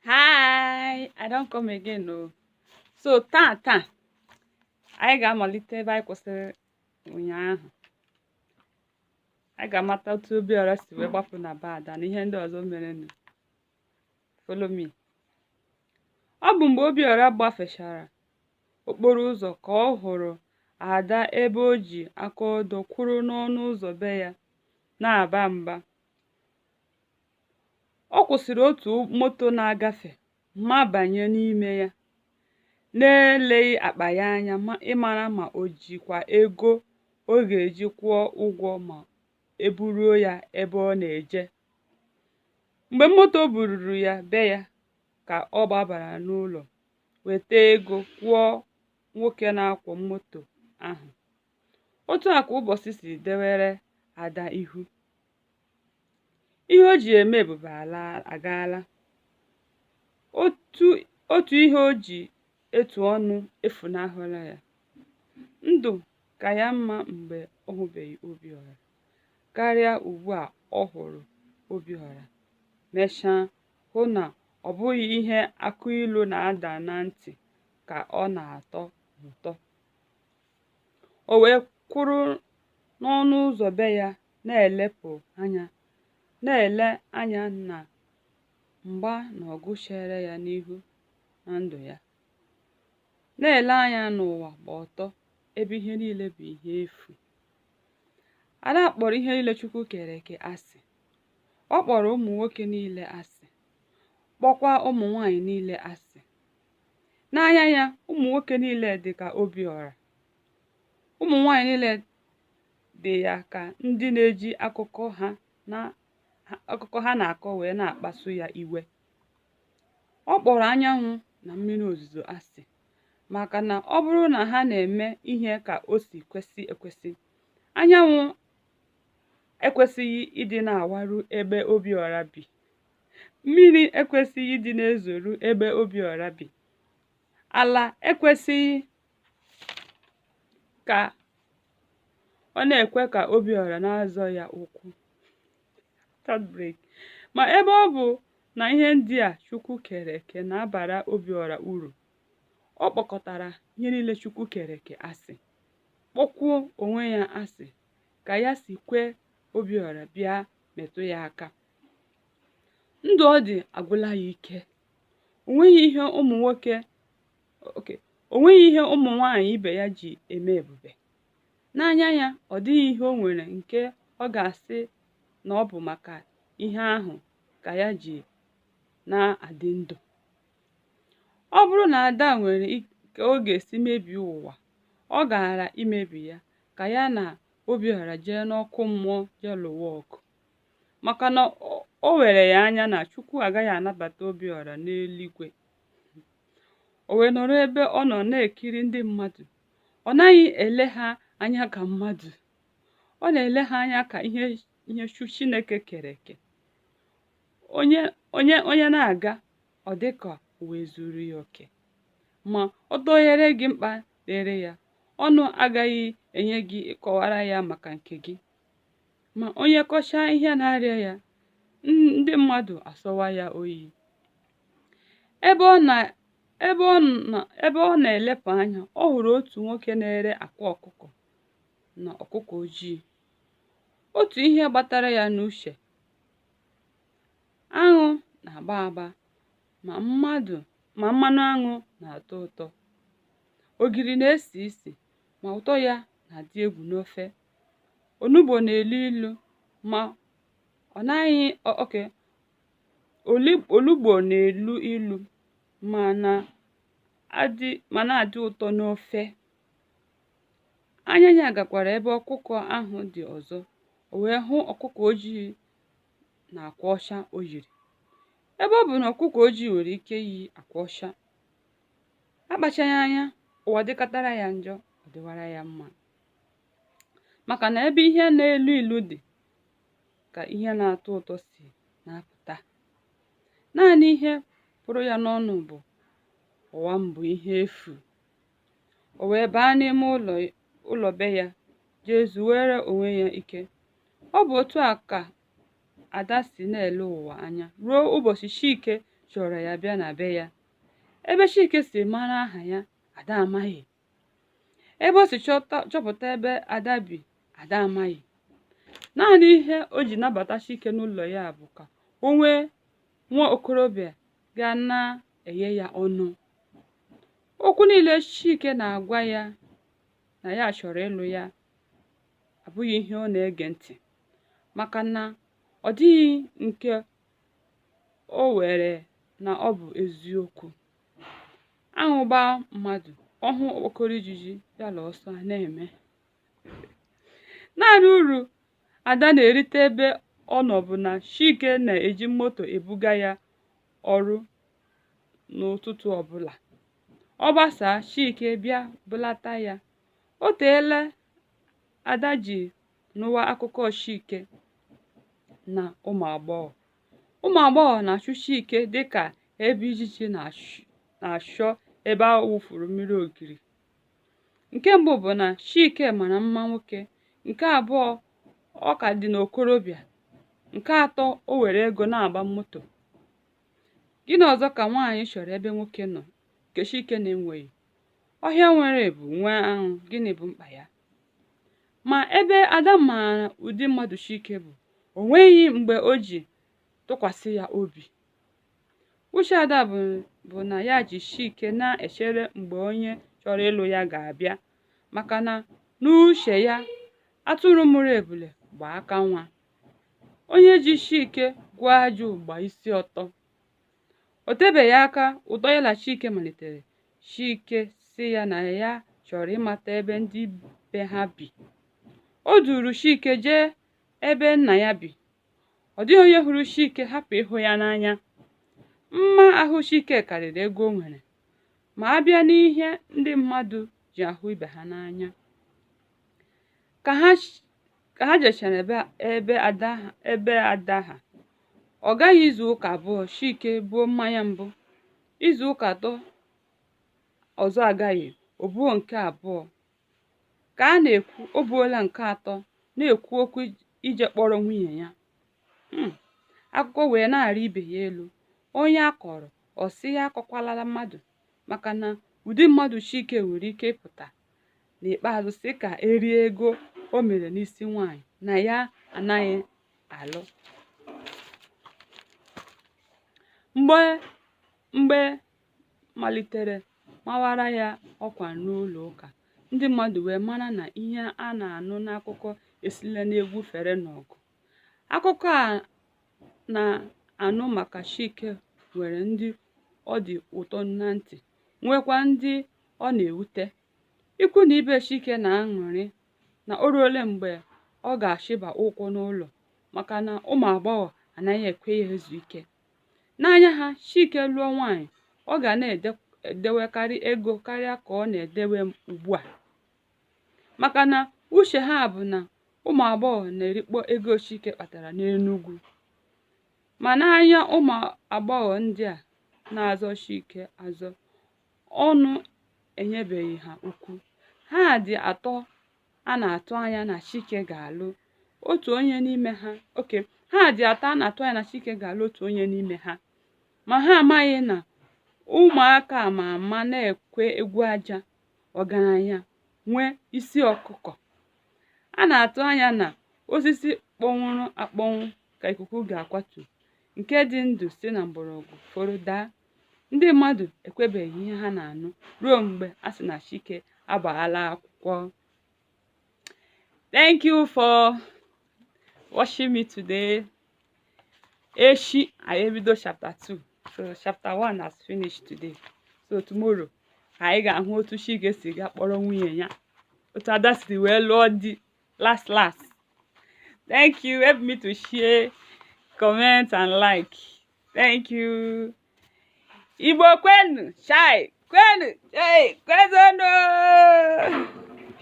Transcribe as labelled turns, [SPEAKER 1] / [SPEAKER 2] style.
[SPEAKER 1] hi i don come again o so taa taa anyị ga-amalite ebe anyị kwụsịrị ụnyaahụ anyị ga-amata otu obiọra si wee gbapụ na be ada na ihe ndị ọzọ merenụ follow me ọ bụ mgbe obiọra gbafechara okporo ụzọ ka ọ hụrụ ada ebe o ji aka odo kwụrụ n'ọnụ ụzọ be ya na-aba mba ọ kwụsịrị otu moto na-agafe ma banye n'ime ya n'eleghị akpa ya anya ịmara ma o jikwa ego ọ ga-eji kwụọ ụgwọ ma e buruo ya ebe ọ na-eje mgbe moto bururu ya be ya ka ọ gbabara n'ụlọ weta ego kwụọ nwoke na-akwọ moto ahụ otu a ka ụbọchị si dewere ada ihu ihe o ji eme ebube agaala otu ihe o ji etu ọnụ efunahụla ya ndụ ka ya mma mgbe ọ hụbeghị Obiọra karịa ugbu a ọ hụrụ Obiọra mechaa hụ na ọ bụghị ihe akụ ilu na-ada na ntị ka ọ na-atọ ụtọ o wee kwụrụ n'ọnụ ụzọ be ya na-elepụ anya na-ele anya na mgba na ọgụ chere ya n'ihu na ndụ ya na-ele anya n'ụwa gba ọtọ ebe ihe niile bụ ihe efu Ada kpọrọ ihe niile Chukwu kere eke asị ọ kpọrọ ụmụ nwoke niile asị kpọkwa ụmụ nwanyị niile asị n'anya ya ụmụ nwoke niile dị ka Obiọra ụmụ nwanyị niile dị ya ka ndị na-eji akụkọ ha na-akọ wee na-akpasu ya iwe ọ kpọrọ anyanwụ na mmiri ozuzo asị maka na ọ bụrụ na ha na-eme ihe ka o si kwesị ekwesị anyanwụ ekwesịghị ịdị na-awaru ebe Obiọra bi mmiri ekwesịghị ịdị na-ezoru ebe Obiọra bi ala ekwesịghị ka ọ na-ekwe ka Obiọra na-azọ ya ụkwụ ma ebe ọ bụ na ihe ndị a Chukwu kere eke na-abara Obiọra uru ọ kpọkọtara ihe niile Chukwu kere eke asị kpọkwuo onwe ya asị ka ya si kwee Obiọra bịa metụ ya aka ndụ ọ dị agwụla ya ike o nweghị ihe ụmụ nwoke oke o nweghị ihe ụmụ nwanyị ibe ya ji eme ebube n'anya ya ọ dịghị ihe o nwere nke ọ ga-asị na ọ bụ maka ihe ahụ ka ya ji na-adị ndụ ọ bụrụ na ada nwere ka ọ ga-esi mebie ụwa ọ gaara imebi ya ka ya na obiọra jee n'ọkụ mmụọ jee lụwa ọgụ maka na o were ya anya na chukwu agaghị anabata obiọra n'eluigwe o wee nọrọ ebe ọ nọ na-ekiri ndị mmadụ ọ naghị ele ha anya ka mmadụ ọ na-ele ha anya ka ihe chu- chineke kere eke onye na-aga ọ dị ka ụwa zuru ya oke ma ọ dọnyere gị mkpa dịrị ya ọnụ agaghị enye gị ịkọwara ya maka nke gị ma onye kọchaa ihe na-arịa ya ndị mmadụ asọwa ya oyi ebe ọ na-elepụ anya ọ hụrụ otu nwoke na-ere akwa ọkụkọ na ọkụkọ ojii otu ihe gbatara ya n'uche aṅụ na-agba agba ma mmadụ ma mmanụ aṅụ na-atọ ụtọ ogiri na-esi isi ma ụtọ ya na-adị egwu n'ofe onugbo na-elu ilu ma ọ naghị o- oke oli- olugbo na-elu ilu ma na-adị ụtọ n'ofe anya ya gakwara ebe ọkụkọ ahụ dị ọzọ o wee hụ ọkụkọ ojii na akwa ọcha o yiri ebe ọ bụ na ọkụkọ ojii nwere ike iyi akwa ọcha akpachaghị anya ụwa dịkatara ya njọ ọ dịwara ya mma maka na ebe ihe na-elu ilu dị ka ihe na-atọ ụtọ si na-apụta naanị ihe pụrụ ya n'ọnụ bụ ụwa m bụ ihe efu o wee baa n'ime ụlọ be ya jee zuwere onwe ya ike ọ bụ otu a ka ada si na-ele ụwa anya ruo ụbọchị chike chọrọ ya bịa na be ya ebe chike si mara aha ya ada amaghị ebe o si chọpụta ebe ada bi ada amaghị naanị ihe o ji nabata chike n'ụlọ ya bụ ka o nwee nwa okorobịa ga na-eghe ya ọnụ okwu niile chike na-agwa ya na ya chọrọ ịlụ ya abụghị ihe ọ na-ege ntị maka na ọ dịghị nke o were na ọ bụ eziokwu aṅụ gbaa mmadụ ọ hụ okpokoro ijiji ya la ọsọ na-eme naanị uru ada na-erite ebe ọ nọ bụ na chike na-eji moto ebuga ya ọrụ n'ụtụtụ ọbụla ọ gbasaa chike bịa bulata ya o teela ada ji nụwa akụkọ chike na ụmụ agbọghọ ụmụ agbọghọ na-achụ chike dịka ebe ijiji na-achọ ebe a wụfuru mmiri ogiri nke mbụ bụ na chike mara mma nwoke nke abụọ ọ ka dị n'okorobịa nke atọ o nwere ego na-agba moto gịnị ọzọ ka nwaanyị chọrọ ebe nwoke nọ nke chike na-enweghị ọhịa nwere ebu nwee aṅụ gịnị bụ mkpa ya ma ebe ada maara ụdị mmadụ chike bụ o nweghị mgbe o ji tụkwasị ya obi uche ada bụ na ya ji chike na-echere mgbe onye chọrọ ịlụ ya ga-abịa maka na n'uche ya atụrụ mụrụ ebule gba aka nwa onye ji chike gwọọ ajụ gba isi ọtọ o tebeghị aka ụtọ ya na chike malitere chike sị ya na ya chọrọ ịmata ebe ndị be ha bi o duuru chike jee ebe nna ya bi ọ dịghị onye hụrụ chike hapụ ịhụ ya n'anya mma ahụ chike karịrị ego o nwere ma a bịa n'ihe ndị mmadụ ji ahụ ibe ha n'anya ka ha ka ha jechara ebe ada ha ọ gaghị izu ụka abụọ chike buo mmanya mbụ izu ụka atọ ọzọ agaghị o buo nke abụọ ka a na-ekwu o buola nke atọ na-ekwu okwu ije kpọrọ nwunye ya akụkọ wee na-arị ibe ya elu onye a kọrọ ọ sị ya akọkwalala mmadụ maka na ụdị mmadụ chike nwere ike ịpụta n'ikpeazụ sị ka e rie ego o mere n'isi nwaanyị na ya anaghị alụ mgbe a malitere mawara ya ọkwa n'ụlọ ụka ndị mmadụ wee mara na ihe a na-anụ n'akụkọ esila n'egwu fere n'ọgụ akụkọ a na-anụ maka Chike nwere ndị ọ dị ụtọ na ntị nwekwa ndị ọ na-ewute ikwu na ibe Chike na-aṅụrị na o ruole mgbe ọ ga-achịba ụkwụ n'ụlọ maka na ụmụ agbọghọ anaghị ekwe ya ezu ike n'anya ha Chike lụọ nwaanyị ọ ga na-edewekarị ego karịa ka ọ na-edewe ugbu a maka na uche ha bụ na ụmụ agbọghọ na-erikpọ ego Chike kpatara n'Enugwu ma n'anya ụmụ agbọghọ ndị a na-azọ Chike azọ ọnụ enyebeghị ha ukwu ha dị atọ a na-atụ anya na chike ga-alụ otu onye n'ime ha okay ha dị atọ a na-atụ anya na chike ga-alụ otu onye n'ime ha ma ha amaghị na ụmụaka ma ama na-ekwe egwu aja ọgaranya nwee isi ọkụkọ a na-atụ anya na osisi kpọnwụrụ akpọnwụ ka ikuku ga-akwatu nke dị ndụ si na mgbọrọgwụ foro daa ndị mmadụ ekwebeghị ihe ha na-anụ ruo mgbe a sị na Chike agbaala akwụkwọ thank you for watching me today echi anyị ebido chapter 2 so chapter 1 has finished today so tomorrow anyị ga-ahụ otu Chike si ga kpọrọ nwunye ya otu Ada si wee lụọ di last last thank you help me to share comment and like thank you igbo kwenu chai kwenu chai kwezonu